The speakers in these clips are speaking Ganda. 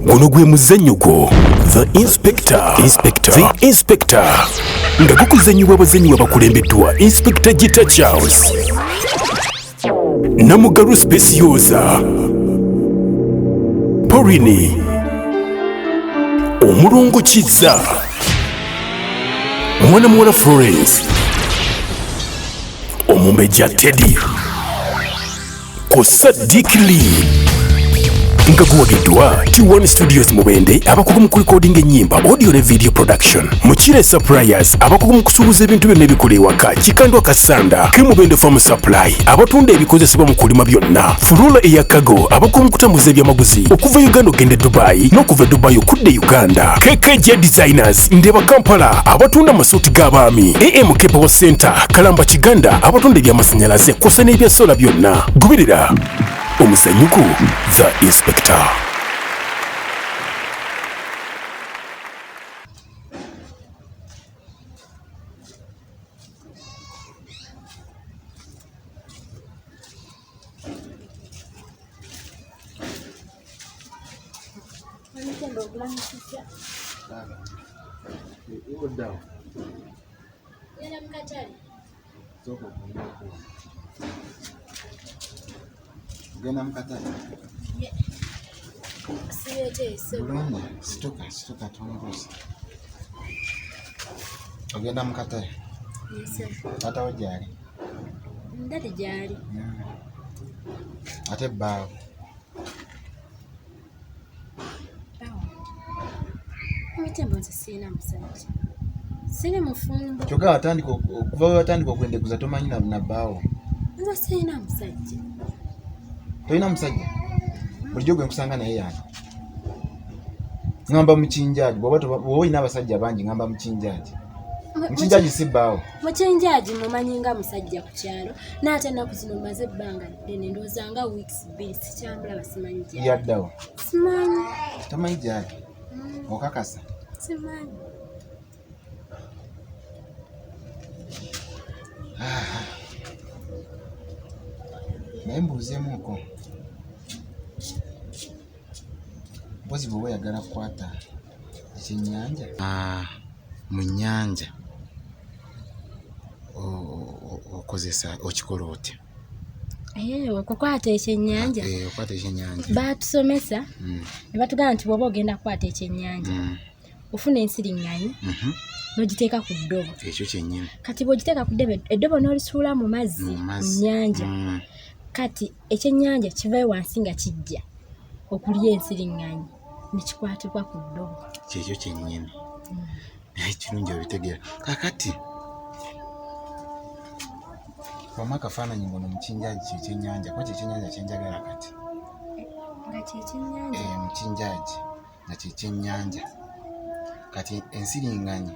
guno gwe muzannyo gwo the inspector inspector the inspector nga gukuzannyibwa abazannyi babakulembeddwa inspector gita charles namugalu specioza porini omulongo kizza mwana muwala florence omumbejja teddy ku Sadiq Lee nga guwagiddwa T1 Studios Mubende abakugu mu kulikodinga ennyimba audio ne video production Mukire Suppliers abakugu mu kusuubuza ebintu byonna ebikola ewaka Kikandwa Kasanda ke Mubende Farm Supply abatunda ebikozesebwa mu kulima byonna Furula eya Kago abakugu mu kutambuza ebyamaguzi okuva Uganda okugenda e Dubai n'okuva e Dubai okudda e Uganda KKJ Designers Market, Ndeba Kampala abatunda amasuuti g'abaami, AM Kepewo Center, Kalamba Kiganda abatunda eby'amasannyalaze kw'ossa n'ebya sola byonna. Goberera omuzanyuko The Inspector. Genda mukatale. Bulungi, situka, situka tumbuuze. Ogenda mukatale? Taata wo gyali? ndati gyali hmm. ate bbaawo emitembo nze sirina musajja siri mufumbo kyoka watandika okuva wewatandika okwendeguza tomanyi na bbaawo nze sirina musajja tolina musajja bulijjo gwe nkusanga naye yange ngamba mukinjaji bwoba olina abasajja bangi ngamba mukinjaji mukinjaji si bbaawo mukyenjaji mumanyi nga musajja ku kyalo naate ennaku zino maze ebbanga ddene ndowooza nga weeks bbiri sikyamulaba simanyi gyali yaddawa simanyi tamanyi gyali mm. okakasa simanyi naye mbuuzemuuko mpozi bweoba oyagala kukwata ekyennyanja ah, mu nnyanja okozesa okikola otya eh, okukwata ekyennyanja eh, okukwata ekyennyanja baatusomesa mm. ne batugamba nti bwoba ogenda kukwata ekyennyanja mm. ofuna ensiriŋŋanyi mm-hmm. n'ogiteeka ku ddobo ekyo kyennyini kati bw'ogiteeka ku ddobo eddobo n'olisuula mu mazzi mu nnyanja mm. kati ekyennyanja kivayo wansi nga kijja okulya ensiriŋŋanyi nekikwatibwa ku ddobo kyekyo kyenyini mm. naye kirungi obitegeera kakati wamu akafaananyi ngono mukinjaji kyekyenyanja kuba kyekyenyanja kyenjagala kati mukinjaji nga kyekyenyanja eh, kati ensiringanyi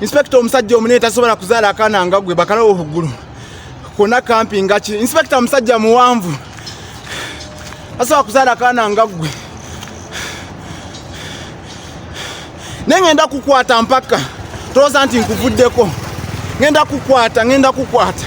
Inspector omusajja omune tasobola kuzala akana nga gwe bakala ohugulu. Kona kampi nga ki. Inspector omusajja muwanvu. Asobola kuzala akana nga gwe. Nenge enda kukwata mpaka. Toza nti nkuvuddeko. Ngenda kukwata, ngenda kukwata.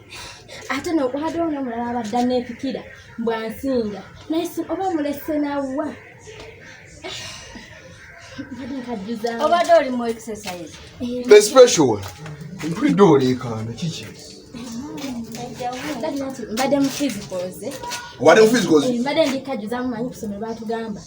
ate nokwata ono omulala abadda nepikira mbwansinga naye oba mulese nawa obadde oli mu exercise the special one mpulidde oleekaana kiki mbadde mu physicals eh? wali mu physicals eh, mbadde ndikajuzamu manyi kusomero batugamba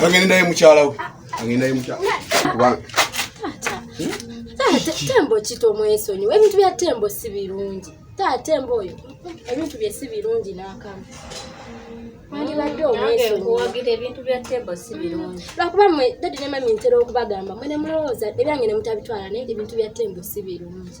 kagende naye mukyala we kagende naye mukyala kubanga tembo kito mwesonyi ebintu bya tembo si birungi taa tembo oyo ebintu bye si birungi n'akamu mwandibadde omwesonyiwagira ebintu bya tembo si birungi lwakuba mwe dadi ne mami ntera okubagamba mwe ne mulowooza ebyange ne mutabitwala naye ebintu bya tembo si birungi